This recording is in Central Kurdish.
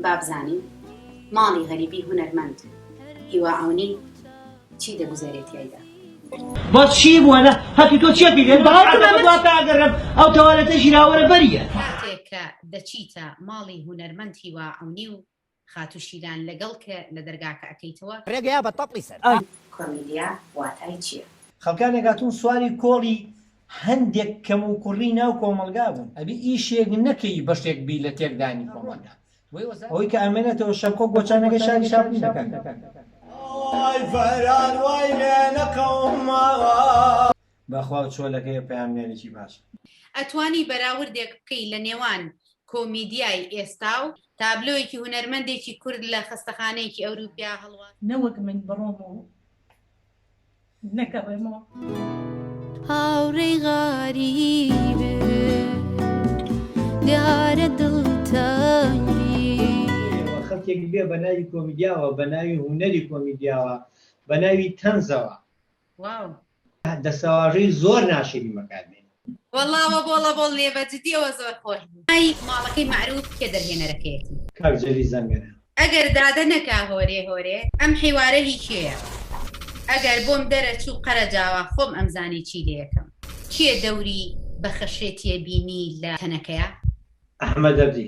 بابزانین ماڵی غەریبی هونەرمەند هیوا عەونی چی دەگوزەرێ تیایدا؟ بەس چی بووە نە هەتیو تۆ چیەتی لێت بە هەر ئەمە دوا تاگەرم ئەو تەوالێتە ژیراوەرە بەریە. کاتێک کە دەچیتە ماڵی هونەرمەند هیوا عەونی و خاتو شیلان لەگەڵ کە لە دەرگاکە ئەکەیتەوە. ڕێگەیا بە تەپڵی سەر. ئای کۆمیدیا واتای چیە. خەڵکانێک هاتوون سواری کۆڵی هەندێک کەموکوڕی ناو کۆمەڵگا بوون ئەبی ئیشێک نەکەی بەشێک بی لە تێکدانی کۆمەڵگا ئەوەی کە ئەمێنێتەوە شەمکۆ گۆچانەکەی شاری شاپولی دەکات. بەخوا و چۆلەکەی پەیامنێرێکی باشە. ئەتوانی بەراوردێک بکەی لە نێوان کۆمیدیای ئێستا و. تابلۆیەکی هونەرمەندێکی کورد لە خەستەخانەیەکی ئەوروپیا هەڵواسراو. نەوەک من بڕۆم و نەگەڕێمەوە. هاوڕێی غەریبم دیارە دڵتەنگی. ئێوە خەڵکێک بێ بە ناوی کۆمیدیاوە، بە ناوی هونەری کۆمیدیاوە، بە ناوی تەنزەوە. واو. دەسەواژەی زۆر ناشرین بەکار بێنی. وەڵا وە بۆڵە بۆڵ نیە بە جدیەوە زۆر خۆش بوو. ئای ماڵەکەی مەعروف کێ دەرهێنەرەکەیەتی. کاک جەلی زەنگەنە. ئەگەر دادە نەکا هۆرێ هۆرێ ئەم حیوارە هی کێیە ئەگەر بۆم دەرەچوو قەرەجاوە خۆم ئەمزانی چی لێکەم کێ دەوری بە خەشێتیە بینی لە تەنەکەیا. ئەحمەدەردی